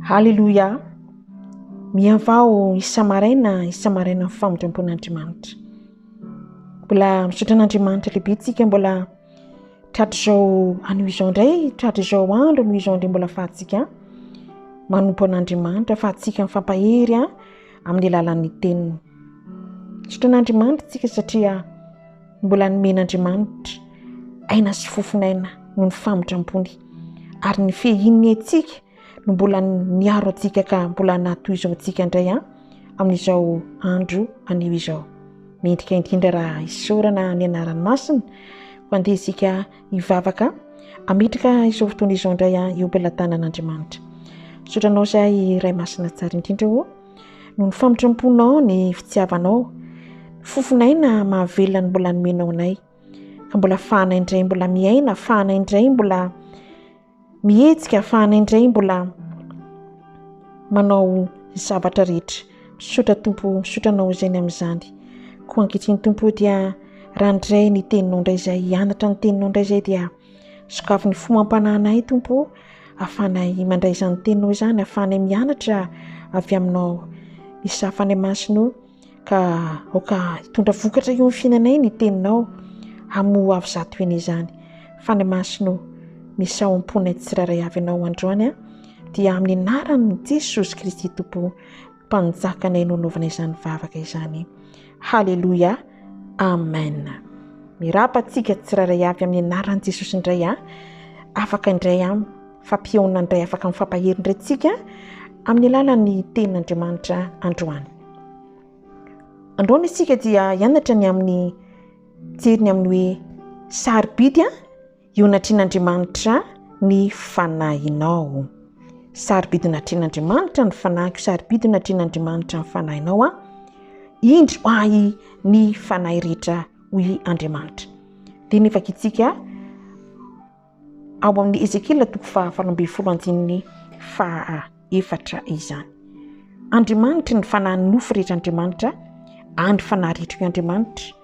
Haleloia! Mihavao isa-maraina isa-maraina ny famindram-pon'Andriamanitra. Mbola misaotra an'Andriamanitra lehibe tsika mbola tratr'izao anio izao indray, tratr'izao andro anio izao indray mbola fahantsika manompo an'Andriamanitra, fahantsika mifampahery amin'ny alalan'ny teniny. Misaotra an'Andriamanitra tsika satria Mbola nomen'Andriamanitra aina sy fofon'aina noho ny famindrampony, ary ny fehin'ny aintsika no mbola niaro antsika ka mbola nahatohizao antsika indray an amin'izao andro anio izao. Mendrika indrindra raha isaorana ny anarany masina ho andeha isika hivavaka ametraka izao fotoana izao indray an eo am-pelatanan'Andriamanitra. Sotranao izay Ray masina tsara indrindra o. Noho ny famitram-ponao ny fitiavanao, fofonay na mahavelona ny mbola nomenao anay. Ka mbola fahanay indray mbola miaina, fahanay indray mbola mihetsika, fahanay indray mbola manao ny zavatra rehetra. Misaotra Tompo, misaotra anao izay ny amin'izany. Koa ankehitriny Tompo dia raha indray ny teninao indray izay, hianatra ny teninao indray izay dia. Sokafy ny fo amam-panahinay, Tompo ô, ahafahanay mandray izany Teninao izany, ahafahanay mianatra avy Aminao ny safanay masina io, ka aoka hitondra vokatra eo amin'ny fiainanay ny Teninao, amin'ny ho avy zato heny izany. Fanahy Masina ô, misaoa am-ponay tsirairay avy Ianao androany, dia amin'ny anaran'i Jesosy Kristy Tompo. mpanjakanay no anaovana izany vavaka izany haleloia amen mirapa antsika tsirairay avy amin'ny anaran'i jesosy indray a afaka indray a fampihaona indray afaka min'ny fampahery indray tsika amin'ny alalan'ny tenin'andriamanitra androany androany isika dia hianatra ny amin'ny jeriny amin'ny hoe sary bidy a Ionatrian'Andriamanitra ny fanahinao. Sarobidy natrian'Andriamanitra ny fanahiko, sarobidy natrian'Andriamanitra ny fanahinao a. Indry ho ahy ny fanahy rehetra hoy Andriamanitra. Dia ny vakitsika ao amin'ny Ezekiela toko fahavalo ambin'ny folo andininy faha efatra izany. Andriamanitra ny fanahin'ny nofo rehetra Andriamanitra, andry fanahy rehetra hoy Andriamanitra.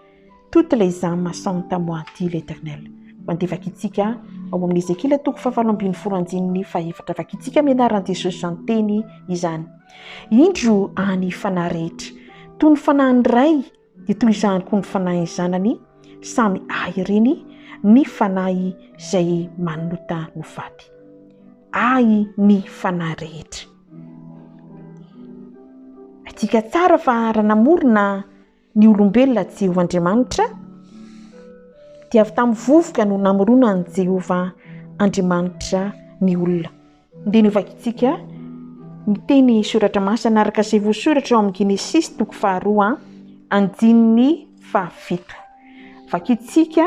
Toutes les ames sont à moi dit l'Eternel. Mandeha vakitsika ao amin'ny Ezekiela toko fahafalo ambin'ny folo andininy fahefatra. Vakitsika amin'ny anaran'i Jesosy izany teny izany. Indro any fanahy rehetra. Toy ny fanahin'ny ray dia toy izany koa ny fanahin'ny zanany samy ahy ireny ny fanahy izay manota no faty. Ahy ny fanahy rehetra. Haintsika tsara fa raha namorona Ny olombelona tsy ho Andriamanitra, dia avy tamin'ny vovoka no namoronan'i Jehovah Andriamanitra ny olona. Andeha ny ho vakintsika ny teny soratra masina araka izay voasoratra ao amin'ny Genesisy toko faharoa andininy fahafito. Vakintsika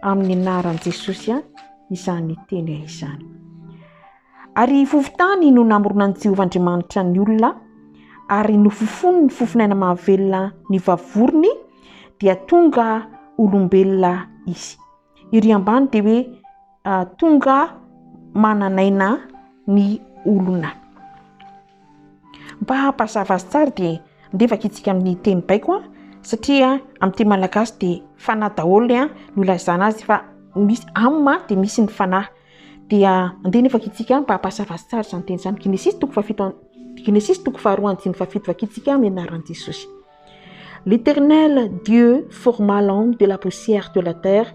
amin'ny anaran'i Jesosy izany teny izany. Ary fofontany no namoronan'i Jehovah Andriamanitra ny olona, ary nofofony ny fofon'aina mahavelona nivavorony, dia tonga olombelona izy. Ery ambany dia hoe ah, tonga manan'aina ny olona. Mba hampazava azy tsara dia andevaka itsika amin'ny teny baiko an, satria amin'ny teny malagasy dia fanahy daholo ny an no ilazana azy fa misy am dia misy ny fanahy. Dia andeha ny vakintsika mba hampahazava azy tsara izany teny izany. Genesisy toko fahafito Genesisy toko faharoa andininy fahafito vakintsika amin'ny anaran'i Jesosy. L'Éternel Dieu forma l'homme de la poussière de la terre.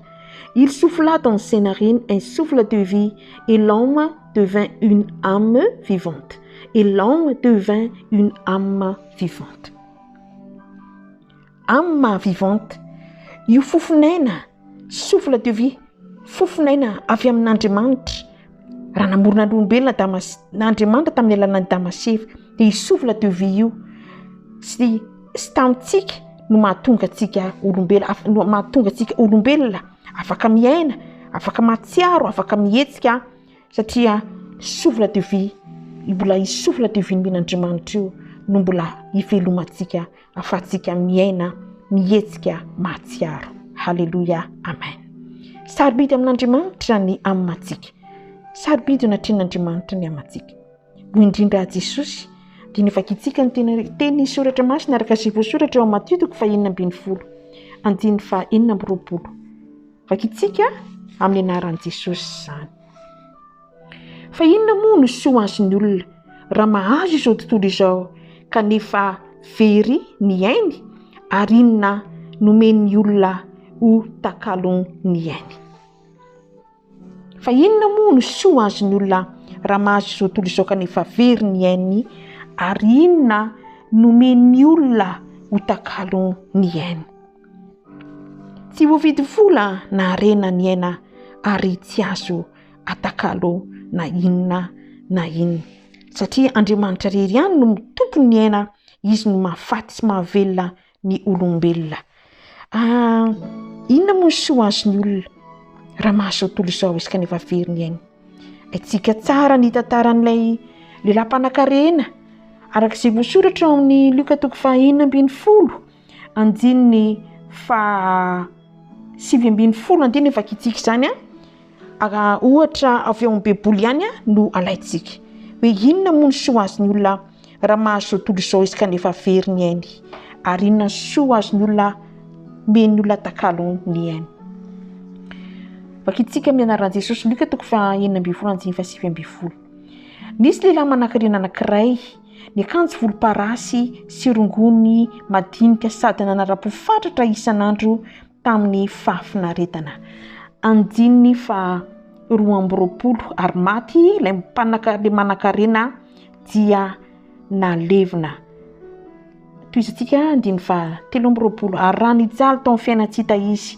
Il souffla dans ses narines un souffle de vie et l'homme devint une âme vivante. Et l'homme devint une âme vivante. Âme maha vivante, io fofon'aina, souffle de vie, fofon'aina avy amin'Andriamanitra. Raha namorona ny olombelona Adama sy, Andriamanitra tamin'ny alalan'i Adama sy Eva, dia io souffle de vie io, tsy, tsy tamintsika no mahatonga antsika olombelona, af-, no mahatonga antsika olombelona afaka miaina, afaka mahatsiaro, afaka mihetsika, satria souffle de vie, mbola io souffle de vie-n'Andriamanitra io no mbola ivelomantsika afatsika miaina mihetsika mahatsiaro. Haleloia amen. Sarobidy amin'Andriamanitra ny amantsika. Sarobidy eo anatrehan'Andriamanitra ny amantsika. Hoy indrindra aho Jesosy dia ny vakitsika ny teny teny soratra masina araka izay voasoratra eo amin'ny Matio toko fahenina ambin'ny folo andininy fa enina amby roapolo. Vakitsika amin'ny anaran'i Jesosy izany. Fa inona moa no soa ho azon'ny olona raha mahazo izao tontolo izao kanefa very ny ainy ary inona no omen'ny olona ho takalon'ny ainy? Fa inona moa no soa ho azon'ny olona raha mahazo izao tontolo izao kanefa very ny ainy ary inona no omen'ny olona ho takalon'ny ainy? Tsy voavidy vola na harena ny aina ary tsy azo atakalo na inona na inona satria Andriamanitra rery ihany no mitompo ny aina izy no mahafaty sy mahavelona ny olombelona ah, inona moa ny soa azon'ny olona raha mahazo tontolo izao izy kanefa very ny aina aitsika tsara ny tantaran'ilay lehilahy mpanakarena araka izay voasoratra ao amin'ny lioka toko fahenina ambin'ny folo anjininy fa sivy ambin'ny folo andininy vakitsika izany a Raha ohatra avy ao amin'ny Baiboly ihany no alaintsika, hoe inona moa ny soa azon'ny olona raha mahazo izao tontolo izao izy kanefa very ny ainy? Ary inona ny soa azon'ny olona omen'ny olona takalo ny ainy? Vakintsika amin'ny anaran'i Jesosy, Lioka toko fahenina ambin'ny folo andininy fahasivy ambin'ny folo. Nisy lehilahy manan-karena anankiray, niakanjo volomparasy sy rongony madinika sady nanara-po fatratra isan'andro. tamin'ny fahafinaretana. Andininy faha roa amby roapolo, ary maty ilay mpanaka, ilay manan-karena dia nalevina. Tohizantsika andininy faha telo amby roapolo, ary raha nijaly tao amin'ny fiainan'i Tsita izy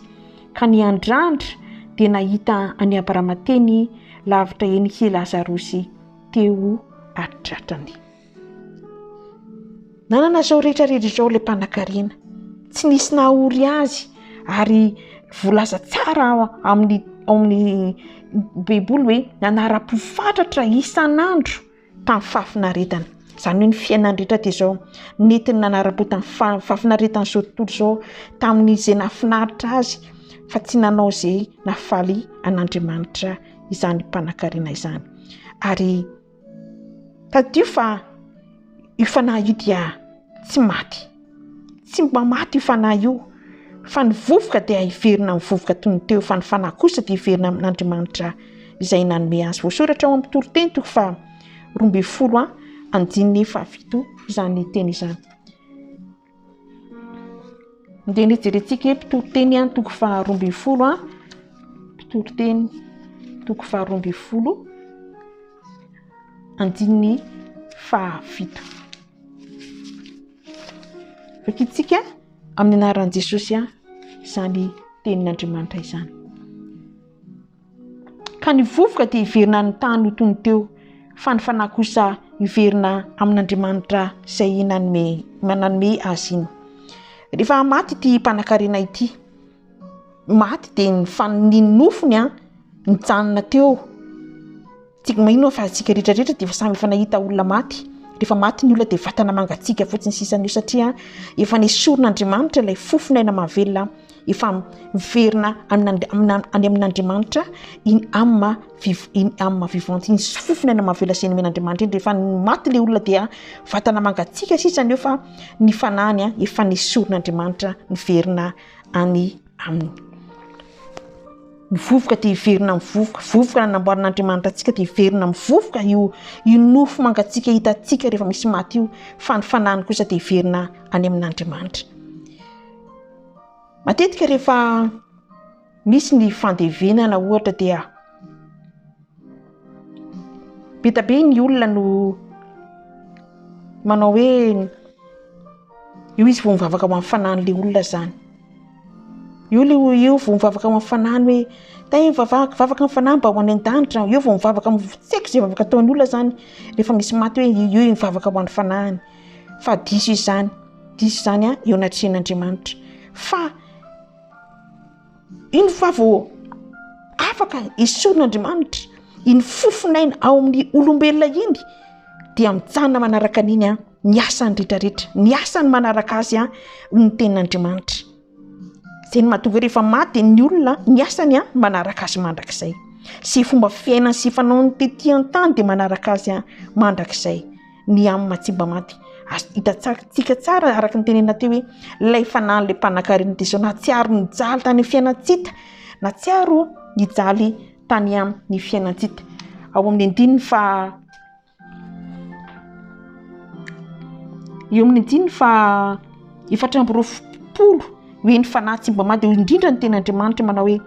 ka niandrandra dia nahita an'i Abrama teny lavitra eny i Lazarosy teo an-tratrany. Nanana izao rehetra rehetra izao ilay mpanankarena, tsy nisy nahory azy ary voalaza tsara ao amin'ny ao amin'ny baiboly hoe nanara-po fatratra isan'andro tamin'ny fahafinaretana, izany hoe ny fiainany rehetra hatrizao nentiny nanara-po tamin'ny faha- fahafinaretan'izao tontolo izao tamin'izay nahafinaritra azy fa tsy nanao izay nahafaly an'Andriamanitra izany mpanankarena izany ary Tadidio fa io fanahy io dia tsy maty. Tsy mba maty io fanahy io, fa ny vovoka dia hiverina amin'ny vovoka toy ny teo, fa ny fanahy kosa dia hiverina amin'Andriamanitra izay nanome azy. Voasoratra ao amin'ny toriteny toko faha roa ambin'ny folo andininy fahafito izany teny izany. Dia ny hijerentsika hoe mpitory teny ihany toko faharoa ambin'ny folo an, mpitory teny toko faharoa ambin'ny folo andininy fahafito. Vakitsika amin'ny anaran'i Jesosy an, izany tenin'Andriamanitra izany. Ka ny vovoka dia hiverina any tany ho tony teo, fa ny fanahy kosa hiverina amin'Andriamanitra izay nanome nanome azy iny. Rehefa maty ity mpanankarena ity, maty dia ny fa- ny nofony mijanona teo. Tsy maninona fa isika rehetra rehetra dia efa samy efa nahita olona maty. Rehefa maty ny olona dia vatana mangatsiaka fotsiny sisa an'io satria efa nesorin'Andriamanitra ilay fofon'aina mahavelona efa miverina any amin'Andriamanitra in âme in âme vivante iny fofon'aina mahavelona izay nomen'Andriamanitra iny rehefa maty ilay olona dia vatana mangatsiaka sisa an'io fa ny fanahiny efa nesorin'Andriamanitra miverina any Aminy. Ny vovoka dia hiverina amin'ny vovoka. Vovoka nanamboarin'Andriamanitra antsika dia hiverina amin'ny vovoka io io nofo mangatsiaka hitantsika rehefa misy maty io fa ny fanahiny kosa dia hiverina any amin'Andriamanitra. Matetika rehefa misy ny fandevenana ohatra dia be dia be ny olona no manao hoe Io izy vao mivavaka ho amin'ny fanahin'ilay olona izany. Io le io vao mivavaka ho amin'ny fanahiny hoe tay vavaka vavaka amin'ny fanahy mba ho any an-danitra aho. Io vao mivavaka amin'ny f- tsy haiko izay vavaka ataon'ny olona izany rehefa misy maty hoe i- io i mivavaka ho an'ny fanahiny fa diso izany, diso izany a eo anatrehan'Andriamanitra fa iny fa vao afaka esorin'Andriamanitra iny fofon'aina ao amin'ny olombelona iny dia mijanona manaraka an'iny a. ny asany retraretra ny asany manaraka azy a ho ny ten'andriamanitra zay ny mahatonga rehefa maty ny olona ny asany a manaraka azy mandrakizay sy fomba fiainany sy fanao ny teti an-tany dia manaraka azy a mandrakizay ny amin'ny matsimba maty as hitatsakytsika tsara araka ny tenena teo hoe lay fanan'la mpanankarena dia zao nahatsiaro ny jaly tany am fiainantsita na tsiaro ny jaly tany am ny fiainantsita ao amin'ny andininy fa Eo amin'ny andininy faha efatra amby roapolo ho eny fanahy tsy mba mady eo indrindra ny teny Andriamanitra manao hoe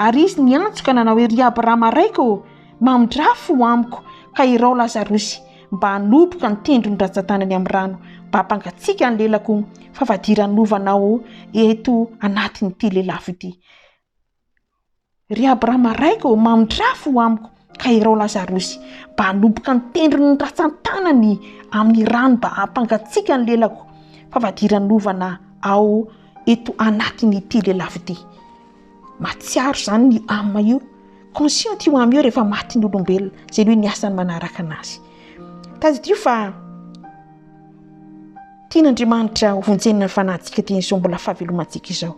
ary izy niantso ka nanao hoe ry Abrahama raiko ô mamindrà fo amiko ka irao Lazarosy mba hanoboka ny tendrony ratsatanany amin'ny rano mba hampangatsiaka ny lelako fa vadiranovanao eto anatin'ity lelafo ity Ry Abrahama raiko ô, mamindrafo ho amiko ka irao Lazarosy, mba hanomboka ny tendrony ny ratsan-tanany amin'ny rano mba hampangatsiaka ny lelako, fa fadiranovana aho eto anatin'ity lelafo ity. Mahatsiaro izany ny âme io, consciente io âme io rehefa matin'ny olombelona, izay hoe ny asany manaraka an'azy. Tadidio fa. Tian'Andriamanitra hovonjenana ny fanahintsika dia izao mbola fahavelomantsika izao.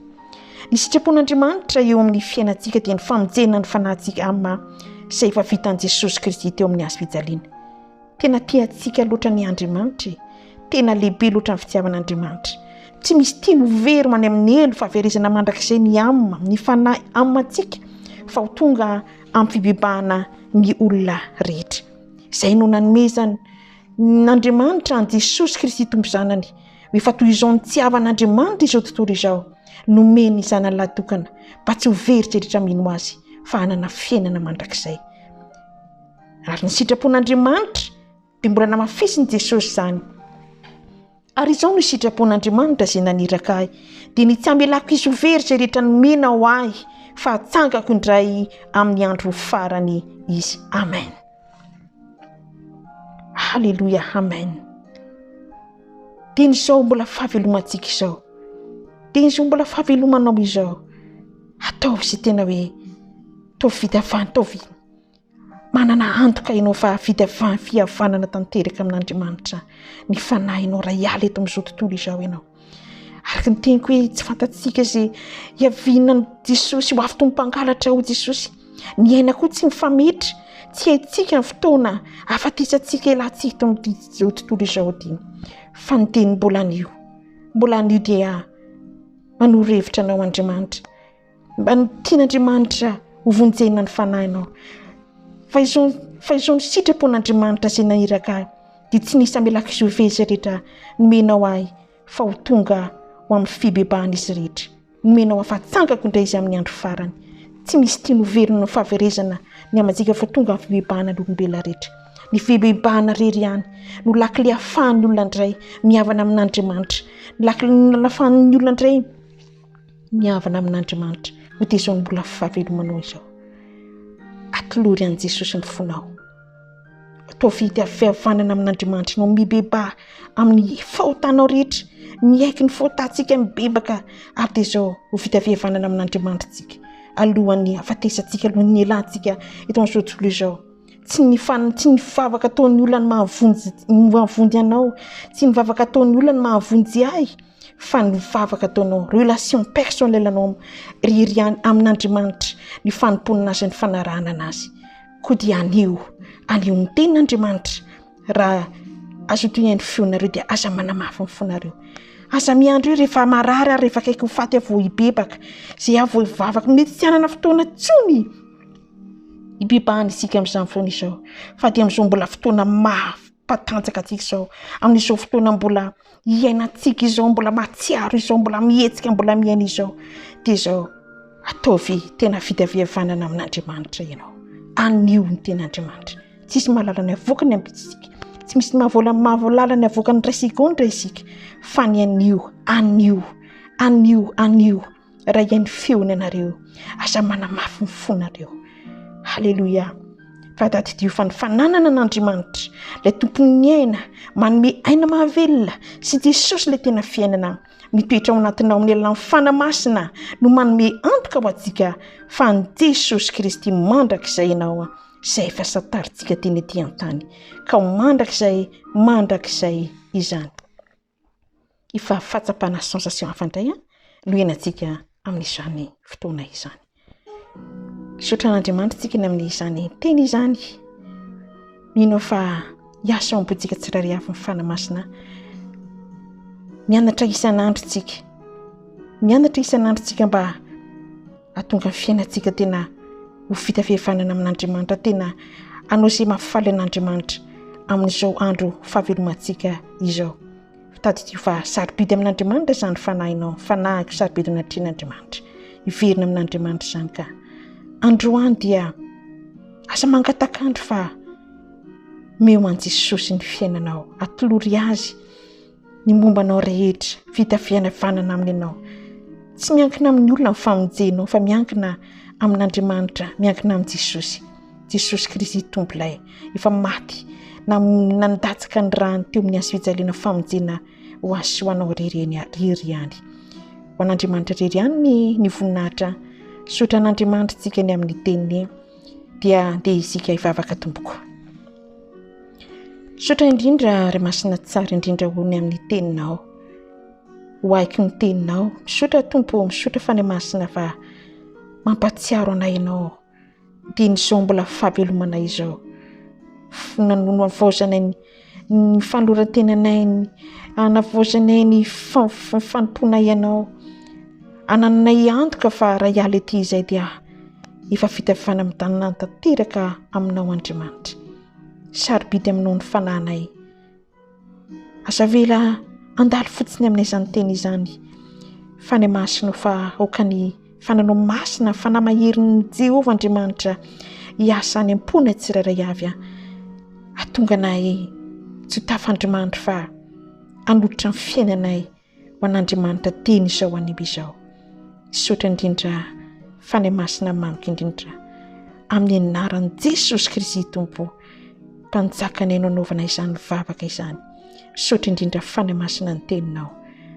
Ny sitrapon'Andriamanitra eo amin'ny fiainantsika dia ny famonjena ny fanahintsika amin'ny maha izay efa vitan'i Jesosy Kristy teo amin'ny hazo fijaliana. Tena tia antsika loatra ny Andriamanitra e! Tena lehibe loatra ny fitiavan'Andriamanitra. Tsy misy tiany ho very any amin'ny helo fahaverezana mandrakizay ny âme, ny fanahy âme antsika fa ho tonga amin'ny fibebahana ny olona rehetra. Izay no nanomezany N'Andriamanitra an'i Jesosy Kristy Tompo Zanany, ho efa toy izao nitiavan'Andriamanitra izao tontolo izao, nomeny ny Zanany Lahitokana, mba tsy ho very izay rehetra mino Azy, fa hanana fiainana mandrakizay. Ary ny sitrapon'Andriamanitra dia mbola namafisin'i Jesosy izany. Ary izao no sitrapon'Andriamanitra izay naniraka ahy, dia ny tsy hamelako hisy ho very izay rehetra nomena ho ahy, fa hatsangako indray amin'ny andro farany izy. Amen. Haleloia, amen. Teny izao mbola fahavelomantsika izao. Teny izao mbola fahavelomanao izao. Ataovy izay tena hoe ataovy vita fantao Manana antoka ianao fa vita fihavanana tanteraka amin'Andriamanitra ny fanahinao raha hiala eto amin'izao tontolo izao ianao. Araka ny teniko hoe tsy fantatsika izay hiaviana amin'i Jesosy ho avy toy ny mpangalatra hoy Jesosy. Ny aina koa tsy mifametra, tsy haintsika ny fotoana hahafatesantsika hialantsika eto amin'izao tontolo izao ity. Fa ny teny mbola anio, mbola anio dia manoro hevitra anao Andriamanitra. Mba ny tian'Andriamanitra hovonjena ny fanahinao. Fa izao ny sitrapon'Andriamanitra izay naniraka ahy, dia tsy nisy hamelako izao ve izay rehetra nomenao ahy fa ho tonga ho amin'ny fibebahan'izy rehetra. Nomenao ahy fahatsangako indray izy amin'ny andro farany. Tsy misy tiany ho velona amin'ny fahaverezana ny hamanjika fa tonga amin'ny fibebahana ny olombelona rehetra. Ny fibebahana irery ihany no lakile ahafahan'ny olona indray mihavana amin'Andriamanitra. Ny lakile ahafahan'ny olona indray Ny havana amin'Andriamanitra ho dia izao ny mbola fahavelomanao izao. Atolory an'i Jesosy ny fonao. Atao vity avy fihavanana amin'Andriamanitra ianao. Mibebaha amin'ny fahotanao rehetra. Miaiky ny fahotantsika mibebaka ary dia izao ho vita fihavanana amin'Andriamanitra isika alohan'ny hafatesantsika, alohan'ny nielantsika eto amin'izao tontolo izao. Tsy ny fan- tsy ny vavaka ataon'ny olona no mahavonjy ny mahavonjy anao, tsy ny vavaka ataon'ny olona no mahavonjy ahy. fa ny vavaka ataonao, relation personnelle anao irery ihany amin'Andriamanitra, ny fanompoana azy, ny fanarahana an'azy, koa dia anio, anio ny tenin'Andriamanitra, raha azo antohian'ny feonareo dia aza manamafy ny fonareo, aza miandry hoe rehefa marary aho, rehefa akaiky ho faty aho vao hibebaka, izay aho vao hivavaka, mety tsy hanana fotoana intsony hibebahana isika amin'izany fotoana izao, fa dia amin'izao mbola fotoana maro. mpatanjaka antsika izao amin'izao fotoana mbola iainantsika izao mbola mahatsiaro izao mbola mihetsika mbola miaina izao dia izao ataovy tena fitaviavanana amin'andriamanitra ianao anio ny tena andriamanitra tsisy mahalala ny avoaka ny ambitsika tsy misy mahavola mahavolala ny avoaka ny raisika o ny raisika fa ny anio anio anio anio Raha hay ny feony ianareo, aza manamafy ny fonareo. Haleloia. Fa tadidio fa ny fananana an'Andriamanitra, ilay tompon'ny aina, manome aina mahavelona sy Jesosy ilay tena fiainana mitoetra ao anatinao amin'ny alalan'ny fana masina no manome antoka ho antsika fa an'i Jesosy Kristy mandrakizay ianao izay efa santarintsika teny ety an-tany. Ka ho mandrakizay, mandrakizay izany. Efa fahatsapana sensation hafa indray an no henantsika amin'izany fotoana izany. Misaotra an'Andriamanitra isika ny amin'izany teny izany. Mino aho fa hiasa ao am-pontsika tsirairay avy ny fanahy masina. Mianatra isan'andro isika, mianatra isan'andro isika mba Hahatonga ny fiainantsika tena ho vita fihavanana amin'Andriamanitra, tena hanao izay mahafaly an'Andriamanitra amin'izao andro fahavelomantsika izao. Tadidio fa sarobidy amin'Andriamanitra izany fanahinao, fanahiko sarobidy anatrehan'Andriamanitra. Hiverina amin'Andriamanitra izany ka. Androany dia asa mangatak'andro fa meo an'i Jesosy ny fiainanao, atolory azy. ny momba anao rehetra vita fihavanana aminy ianao tsy miankina amin'ny olona ny famonjenao fa miankina amin'andriamanitra miankina amin'i jesosy jesosy kristy tompo ilay efa maty na nandatsaka ny rany teo amin'ny azo fijaliana famonjena ho azy sy ho anao rery eny rery ihany ho an'andriamanitra rery ihany ny ny voninahitra sotra an'andriamanitra tsika ny amin'ny teniny dia dia isika hivavaka tompoko Misaotra indrindra Ray Masina tsara indrindra hoy ny amin'ny teninao, ho ahiko ny teninao. Misaotra Tompo ô, misaotra Fanahy Masina fa mampahatsiaro anay ianao dia ny izao mbola fahavelomanay izao, nanavaozanay ny fanoloran-tenanay, nanavaozanay ny fanompoanay anao, anananay antoka fa raha hiala ety izay dia. Efa vita avy any amin'ny tananany tanteraka aminao Andriamanitra. Sarobidy aminao ny fanahinay. Aza avela handalo fotsiny aminay izany teny izany. Fany masinao fa aoka ny fananao masina, fanahy maherin'ny Jehovah Andriamanitra hiasa any am-ponay tsirairay avy. Hatonga anay tsy ho tafandrimandry fa hanolotra ny fiainanay ho an'Andriamanitra teny izao anio izao. Misaotra indrindra Fanahy Masina mamiko indrindra amin'ny anaran'i Jesosy Kristy Tompo mpanjaka ny haino anaovana izany vavaka izany. Misaotra indrindra Fanahy Masina ny teninao.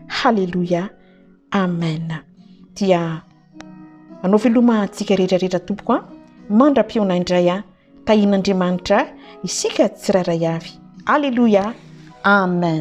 Haleloia. Amen. Dia anao veloma antsika rehetra rehetra tompoko a mandra-piona indray a tahin'andriamanitra isika tsirairay avy aleloia amen